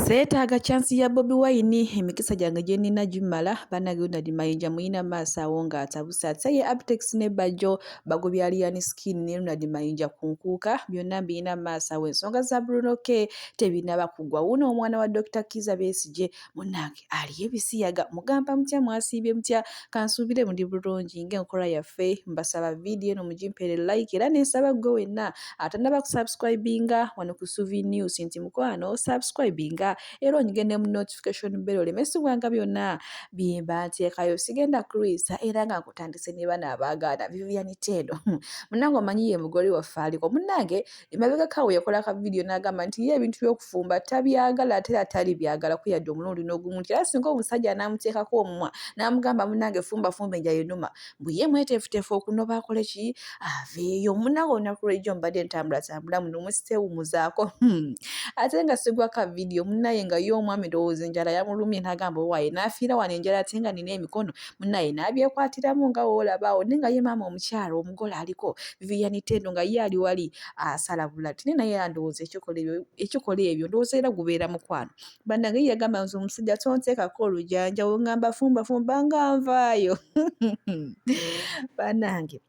Seetaaga chance ya Bobi Wine emikisa gyange gye nnina gimmala bannange Ronald Mayinja muyina maaso awo ng'atabuse ate ye Abtex ne Bajjo bagobya Alien Skin ne Ronald Mayinja ku nkuuka byonna mbiyina maaso awo ensonga za Bruno K tebinaba kugwa wuuno omwana wa Dokita Kiiza Besigye munnange aliyo ebisiyaga mugamba mutya mwasiibye mutya kansuubire muli bulungi ng'enkola yaffe mbasaba vidiyo eno mugimpere like era nensaba ggwe wenna atanaba kusubscribinga wano ku suvi news nti mukwano subscribinga era onyige ne mu notification bell olemesibwanga byonna byemba nteekayo sigenda kulwisa era nga nkutandise ne bana abaagaana vivianitendo munange omanyi ye mugole waffe aliko munange emabegako awo yakola ka vidiyo n'agamba nti ye ebintu by'okufumba tabyagala ate era tali byagala kuyadde omulundi n'ogumu nti era singa omusajja anaamuteekako omumwa n'amugamba munange fumba fumba enja yenuma mbu ye mweteefuteefu okunoba akole ki aveeyo munawe olunaku lwejjo mbadde ntambulatambula muno musitewumuzaako hmm. ate nga sigwa ka vidiyo munaye nga ye omwami ndowooza enjala yamulumye n'agamba owaaye n'afiira wano enjala ate nga nina emikono munaye n'abyekwatiramu nga woolabaawo naye nga ye maama omukyala omugole aliko vivian tendo nga ye ali wali asala bulati naye naye andowooza ekikola ebyo ndowooza era gubeera mukwano bannange ye yagamba nze omusajja tonteekako olujanja wongamba fumbafumba nga nvaayo bannange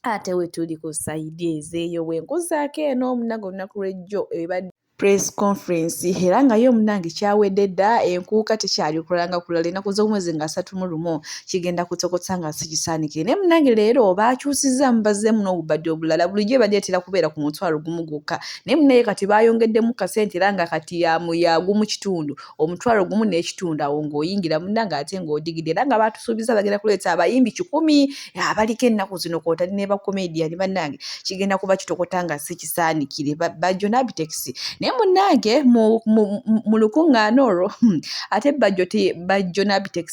ate wetuli ku sayidi ezeeyo bwenkuzaako eno omunaga olunaku lwejjo ebadde press conference era nga yo munange kyawedde dda enkuuka tekyali kulanga kulala enaku z'omwezi nga asatu mu lumu kigenda kutokota nga sikisaanike naye munange leero baakyusizza mubazzeemu n'obubadde obulala bulijjo ebadde etera kubeera ku mutwalo gumu gwokka naye munaye kati baayongeddemu kasente era nga kati yagumu kitundu omutwalo gumu n'ekitundu awo ng'oyingira munna ng'ate ng'odigidde era nga baatusuubiza bagenda kuleeta abayimbi kikumi abaliko ennaku zino kwotali ne bakomediyani bannange kigenda kuba kitokota nga si kisaanikire bajjo n'abitekisi naye munnange mu lukuŋŋaana olwo hmm, ate bajjo bajjo n'abitekisi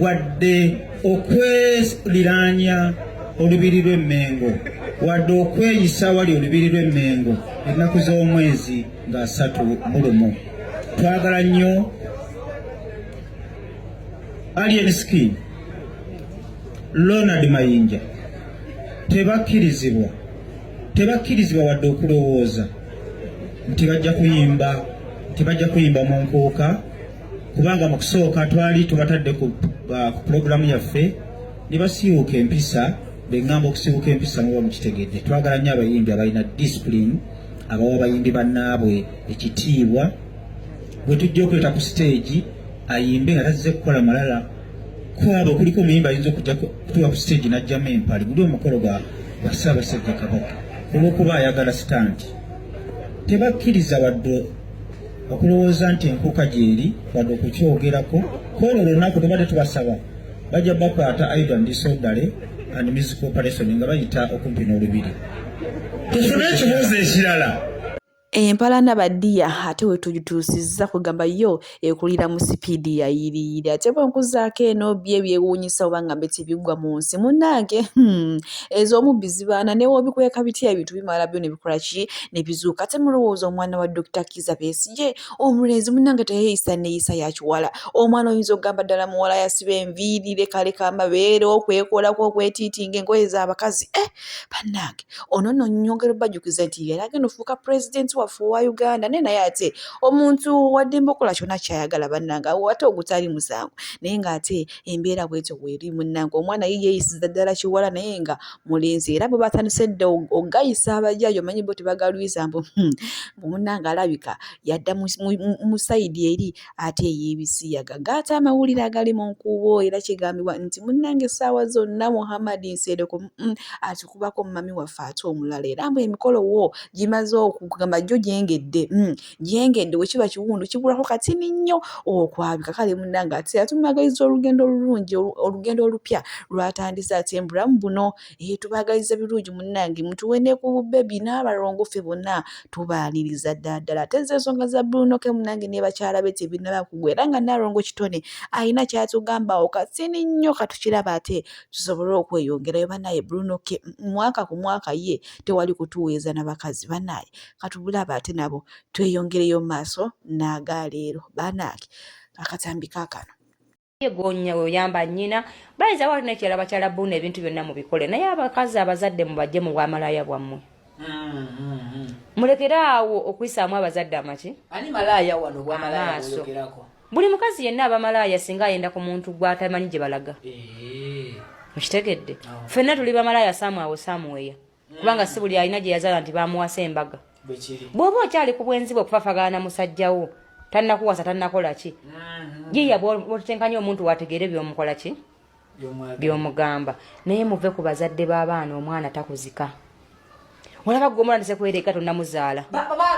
wadde okweliraanya olubiri lw'emmengo wadde okweyisa wali olubiri lw'emmengo ennaku z'omwezi nga asatu mu lumu twagala nnyo alien skin lonald mayinja tebakkirizibwa tebakkirizibwa wadde okulowooza nti bajja kuyimba nti bajja kuyimba mu nkuuka kubanga mu kusooka twali tubatadde ku pulogulaamu yaffe ne basiiwuuka empisa be ŋŋamba okusiiwuuka empisa muba mukitegedde twagala nnyo abayimbi abalina disipulini abawa abayimbi bannaabwe ekitiibwa bwe tujja okuleeta ku siteegi ayimbe nga tazze kukola malala kwabo kuliko omuyimba ayinza okujja kutuwa ku siteegi n'ajjamu empali guli omukolo gwa ssaabasajja kabaka olw'okuba ayagala sitanti tebakkiriza wadde okulowooza nti enkuka gyeri wadde okukyogerako kwolwo olunaku tubadde tubasaba bajja bakwata aida ndisodale and music operation nga bayita okumpi n'olubiri tufune ekibuuzo ekirala empalana badiya ate wetugituusizza kugamba yo ekulira mu sipiidi yayiriyiri ate bwenkuzaako eno bye byewuunyisa oba ngambe tebigwa mu nsi munnange hmm, ez'omubbi zibaana newobikweka bitya ebintu bimala byo nebikola ki nebizuuka ate mulowooza omwana wa Dokita Kiza Besigye omulenzi munange teyeyisa neyisa yakiwala omwana oyinza okugamba ddala muwala yasiba enviiri lekaleka amabeere okwekolako okwetiitinga engoye z'abakazi e eh, bannange ono no nyongera obajukiza nti yali agenda ofuuka pulezidenti waffe owa Uganda naye naye ate omuntu waddembe okola kyona kyayagala bannange awo ate ogutali musango naye ng'ate embeera bwetyo weeri munnange omwana ye yeyisiza ddala kiwala naye nga mulinzi era bwe batandise dda ogayisa abajaaji omanyi bo tebagalwiza mbu hmm, mbu munnange alabika yadda mu sayidi eri ate ey'ebisiyaga gaata amawulire agali mu nkuubo era kigambibwa nti munnange essaawa zonna muhammadi nsereko hmm, atukubako mumami waffe ate omulala era mbu emikolo wo gimaze okugamba gyo gyengedde hmm, gyengedde bwe kiba kiwundu kibulako katini nnyo okwabika kale munnange ate era tumwagaliza olugendo olulungi olugendo olupya lwatandise ate mbulamu buno ee tubaagaliza birungi munnange mutuwe ne ku bubbebi n'abalongo ffe bonna tubaaniriza ddala ddala ate ze ensonga za bulunoke munnange ne bakyala be tebinaba kugwa era nga naalongo kitone alina kyatugambawo katini nnyo katukiraba ate tusobole okweyongerayo banaye bulunoke mwaka ku mwaka ye tewali kutuweeza na bakazi banaye katubulaba ate nabo tweyongereyo mu maaso n'aga leero banaaki akatambi kakano yegonya weoyamba nyina bayinza wali nekirala bakyala buna ebintu byonna mubikole naye abakazi abazadde mubajje mu bwamalaya bwammwe mulekere awo okuyisaamu abazadde amaki amaaso buli mukazi yenna abamalaaya singa ayenda ku muntu gwatamanyi gye balaga eh. mukitegedde fenna tuli bamalaaya saamu awo saamu weya kubanga si buli alina gye yazaala nti bamuwasa embaga bw'oba okyali ku bwenzi bwe okufafagana na musajja wo tannakuwasa tannakola ki mhm. yiya bwotutenkanya omuntu wategeere byomukola ki byomugamba naye muve ku bazadde b'abaana omwana takuzika olaba gwe omwana ndise kwereka tonnamuzaala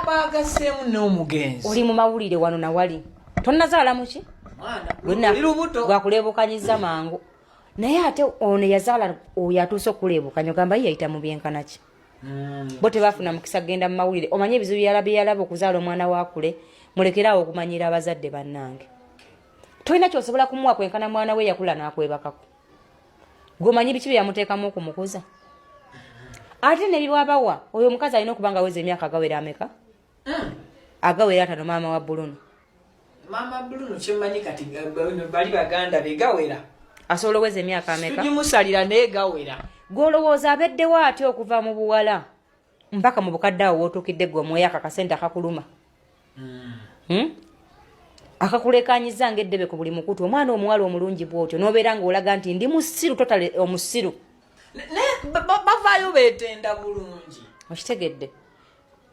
bagaseemu n'omugenzi oli mu mawulire wano nawali tonnazaala muki gwakuleebukanyiza mangu naye ate ono yazaala oyo atuuse okuleebukanya ogamba ye yayita mu byenkana ki hmm. bo tebafuna mukisa kugenda mu mawulire omanye ebizibu byala byeyalaba okuzaala omwana wakule mulekeraawo okumanyira abazadde bannange tolina kyosobola kumuwa kwenkana mwana we yakula n'akwebakako gweomanyi biki bye yamuteekamu okumukuza ate nebiwabawa oyo omukazi alina okuba nga weza emyaka gawera ameka hmm. agawera atano maama wa buluno maama buluno kyemanyi kati bali baganda be gawera asobola oweza emyaka ameka tugimusalira naye gawera gwolowooza abeddewo ati okuva mu buwala mpaka mu bukadde awo wotuukidde gwe omwoyo ako akasente akakuluma hmm. Hmm? akakulekanyiza ngaeddebe ku buli mukutu omwana omuwala omulungi bwotyo nobeera ngaolaga nti ndi musiru totale omusiru bavaayo betenda bulungi okitegedde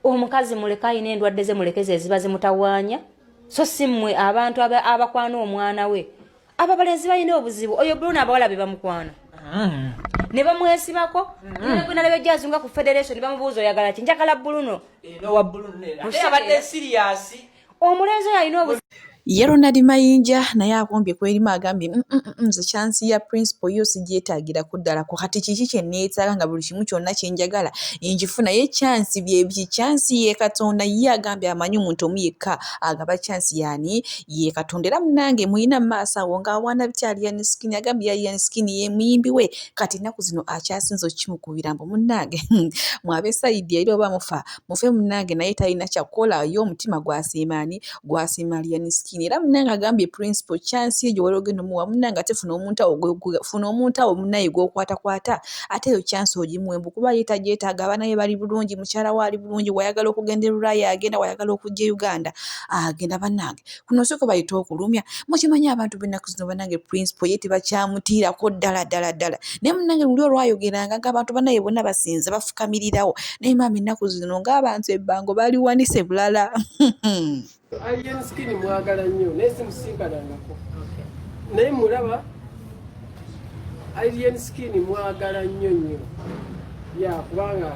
omukazi muleke ayina endwadde ze mulekeze eziba zimutawaanya so si mmwe abantu abakwana omwana we abo abalenzi balina obuzibu oyo bruno abawala be bamukwana mm. ne bamwesibako mm. nalaba ejjazunga ku federation bamubuuza oyagala ki njagala bruno omulenzi oyo alina obu ye ronald mayinja naye akombye kwerimu agambye mm, mm, mm, nze kyansi ya principal yo sigyetagirako ddala ku kati kiki kyeneetaaga nga buli kimu kyonna kyenjagala enjifu naye kyansi byebiki kyansi ye katonda ye agambye amanyi omuntu omu yekka agaba kyansi yaani ye katonda era munange muyina maaso awo nga awaana bitya aliyani skin agambye yaliyani skin ye muyimbi we kati ennaku zino akyasinza okukimukubira mbu munange mwabesayidi era oba mufa mufe munange naye talina kyakukola ye omutima gwasiima ani gwasiima aliyani skin era munange agambye principal chance egyo wali ogenda omuwa munange ate funa omuntu awo funa omuntu awo munaye gwokwatakwata ate eyo chance ogimuwe mbu kuba ye tagyetaaga abaana be bali bulungi mukyala we ali bulungi wayagala okugenda erulaya agenda wayagala okujja e uganda agenda banange kuno siko bayita okulumya mukimanyi abantu benaku zino banange principal ye tebakyamutiirako ddala ddala ddala naye munange luli olwayogeranga nga abantu banaye bona basinze bafukamirirawo naye maama ennaku zino ngaabantu ebbango baliwanise bulala naye mulaba alien skin mwagala nnyo nnyo ya kubanga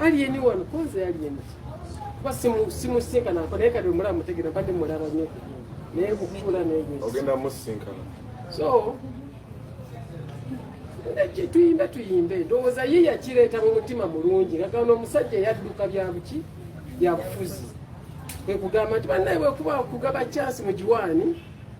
Alien one koze alien. Kwa simu simu sinka na kwa neka dumura mutegera bande muraba nyo. Naye kukula naye. Ogenda musinka. So tuyimbe tuyimbe ndowooza ye yakireeta mu mutima mulungi ngagano omusajja yadduka byabuki byabufuzi kwekugamba nti banaye wekuba kugaba kyansi mu giwaani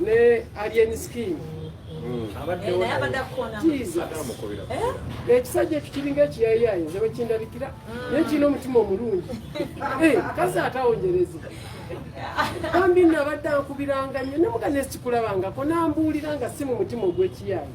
ne alien skin hmm. eh? ekisajja ekyo kiringa ekiyayayi nze wekindabikira hmm. naye kirina omutima omulungi eh, kazi atawonjereza bambi nabadde ankubiranga nnyo namuga nesikikulabangako nambuulira nga si mu mutima ogw'ekiyayi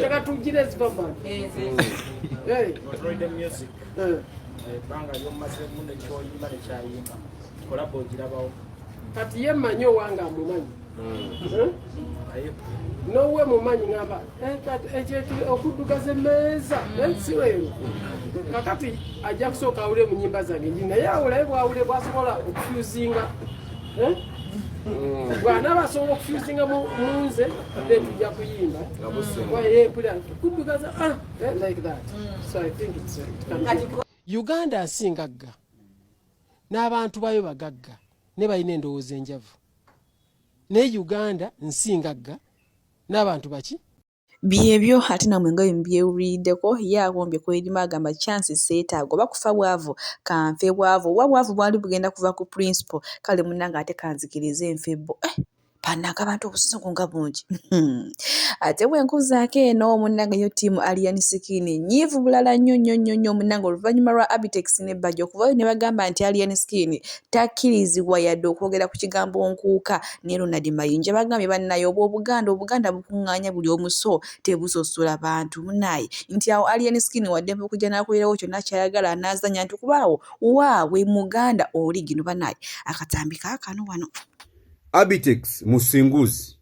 Taka tujire zibaba. Eh. Hey. Control the music. Eh. Banga yo maze munde cho yima ne cha yima. Collabo jirabawo. Kati ye manyo wanga mumanyi. Mm. Eh? Nowe mumanyi ngaba. Eh kati echetu eh, okuduka ze meza. Mm. Eh siwe. Kakati ajakusoka ule munyimba zange. Naye awule bwa ule bwa sokola okufuzinga. eh? bwanaba asobola okufusinga munze ade tujja kuyimba kudugaza ah, eh, like that so i think it's uh, uganda nsi ngagga n'abantu bayo bagagga ne balina endowooza enjavu naye uganda nsi ngagga n'abantu baki Byebyo ate namwe nga bwemubyewulirideko ye awombye kwelima agamba chance setaaga oba kufa bwavu kanfe bwavu oba bwavu bwali bugenda kuva ku principle kale munange ate kanzikirize nfe bo eh banange abantu obusungu nga bungi hmm. ate bwenkuzaako eno munange yo team alian skin nyiivu bulala nnyo nnyo nnyo nnyo munange oluvannyuma lwa abitex ne baja okuvayo ne bagamba nti alian skin takkirizibwa yadde okwogera ku kigambo nkuuka ne Ronald Mayinja bagambye bannaye obw'Obuganda Obuganda bukuŋŋaanya buli omu so tebusosola bantu munaaye nti awo Alien Skin waddembe okujja n'akolerawo kyonna ky'ayagala anaazannya nti kuba awo waabwe Muganda oli gino banaaye akatambi kaakano wano Abitex Musinguzi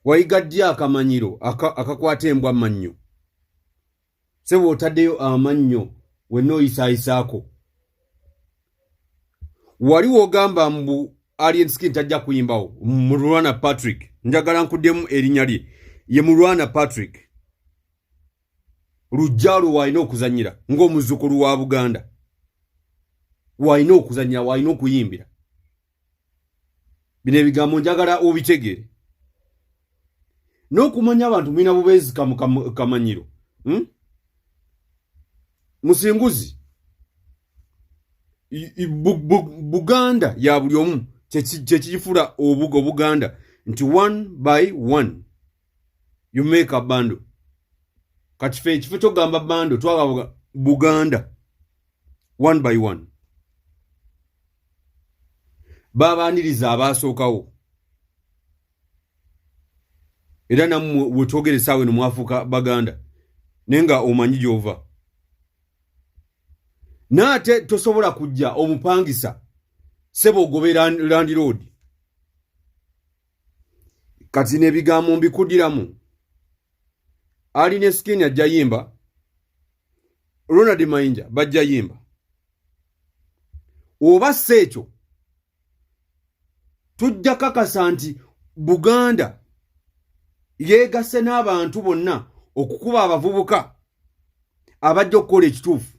wayiga ddi akamanyiro akakwata embwa mannyo sebo otadeyo amannyo wenna oyisaayisaako wali wogamba mbu alien skin tajja kuyimbawo mulwana patrick njagala nkuddemu erinnya lye ye mulwana patrick lujjalo waalina okuzanyira ng'omuzzukulu wa buganda waalina okuzanyira waalina okuyimbira bino ebigambo njagala obitegere n'okumanya abantu mulina bubeezi kamanyiro hmm? musinguzi buganda ya buli omu kyekiyifula obuga obuganda nti one by one you make a bando kati fe ekifo kyokugamba bando twagaba buganda one by one babaaniriza abaasookawo era nammwe wetwogere saawa eno mwafuuka baganda naye nga omanyi gy'ova naate tosobola kujja omupangisa sebo ogobe landiroodi kati nebigambo mbikudiramu ali ne skin ajja yimba ronald mayinja bajja yimba oba si ekyo tujja kakasa nti buganda yeegasse n'abantu bonna okukuba abavubuka abajja okukola ekituufu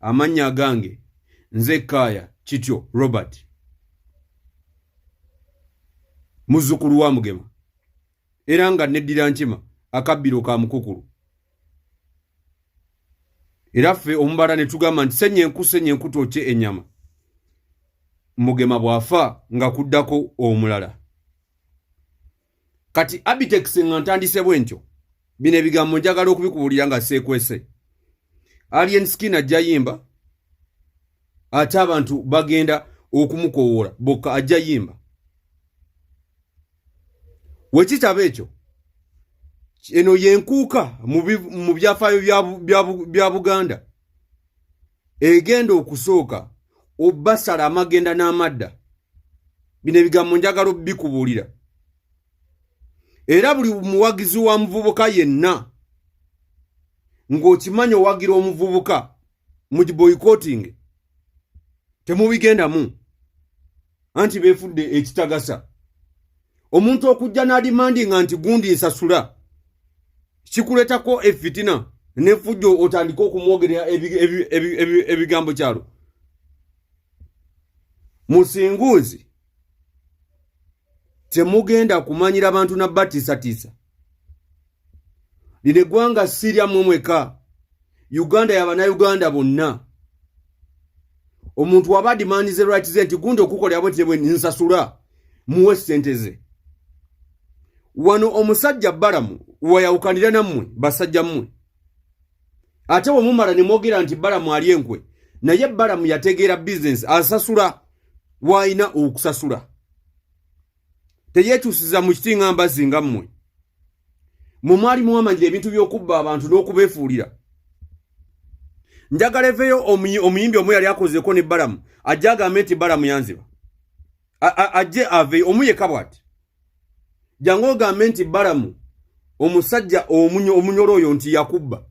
amannya agange nze kaaya kityo robert muzzukulu wa mugema era nga neddira nkima akabbiro ka mukukulu era ffe omubala ne tugamba nti senya enku senya enku twokye ennyama mugema bw'afa nga kuddako omulala kati abitex nga ntandise bwentyo bino ebigambo njagala okubikubuulira nga seekwese alien skin ajja yimba ate abantu bagenda okumukowoola bokka ajja yimba wekitaba ekyo eno yenkuuka mu byafaayo bya buganda egenda okusooka obasala amagenda n'amadda bino ebigambo njagala obikubuulira era buli muwagizi wa muvubuka yenna ng'okimanyi owagira omuvubuka mu giboyikotinge temubigendamu anti befudde ekitagasa omuntu okujja n'adimandinga nti gundi nsasula kikuletako efitina nefujjo otandike okumwogerera ebigambo kyalo musinguuzi temugenda kumanyira bantu na batisatiisa lino eggwanga sirya mmwe mweka uganda yabanauganda bonna omuntu waba adimandize rights ze nti gundi okukolera bwe tebwe nsasula muwe sente ze wano omusajja balamu wayawukanira nammwe basajja mmwe ate bwe mumala ne mwogera nti balamu ali enkwe naye balamu yategeera bizinesi asasula w'alina okusasula teyetusiza mu kiti nga mbazi nga mmwe mwe mwali muwamanyira ebintu by'okubba abantu n'okubeefuulira njagala eveyo omuyimbi omu yali akozeko ne balamu ajje agambe nti balamu yanziba ajje aveyo omu yeka bwati jangu ogambe nti balamu omusajja omunyolo oyo nti yakubba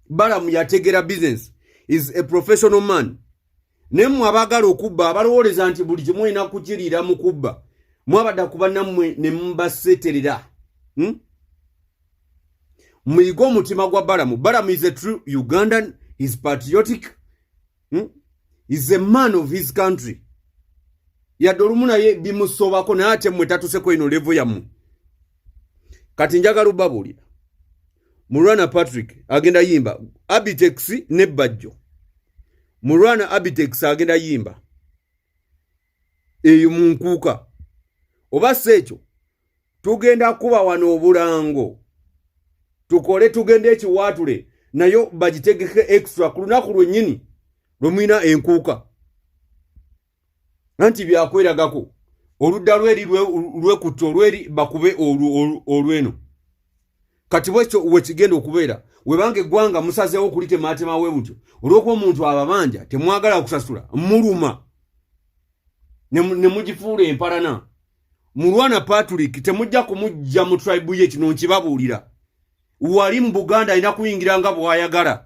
balamu yategera business is a professional man naye mmwe abaagala okubba abalowooleza nti buli kimu olina kukiriira mu kubba mwabadda kuba nammwe ne mubaseterera hmm? muyige omutima gwa balamu balamu is a true ugandan is patriotic hmm? is a man of his country yadde olumu naye bimusobako naye ate mmwe tatuseko ino levo yammwe kati njagala obabuulira mulwana patrick agenda yimba abitex ne bajjo mulwana abitex agenda yimba eyo munkuuka oba si ekyo tugenda kuba wano obulango tukole tugende ekiwaatule nayo bagitegeke extra ku lunaku lwennyini lwe mulina enkuuka nanti byakweragako oludda lweri lwekutta olweri bakube olweno kati bwekyo wekigenda okubeera webanga eggwanga musazeewo kulitemaatema we butyo olwokuba omuntu ababanja temwagala kusasula muluma ne mugifuula empalana mulwana patrick temujja kumujja mu tribu ye kino nkibabuulira wali mu buganda alina kuyingira nga bwayagala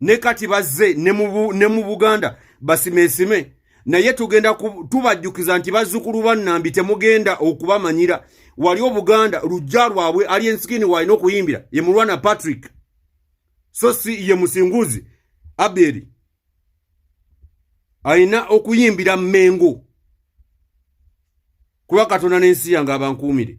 ne kati bazze ne mu buganda basimesime naye tugenda tubajjukiza nti bazzukulu bannambi temugenda okubamanyira wali obuganda lujja lwabwe ali ensikini waalina okuyimbira ye mulwana patrick so si ye musinguzi aberi alina okuyimbira mengo kuba katonda n'ensi yange abankuumire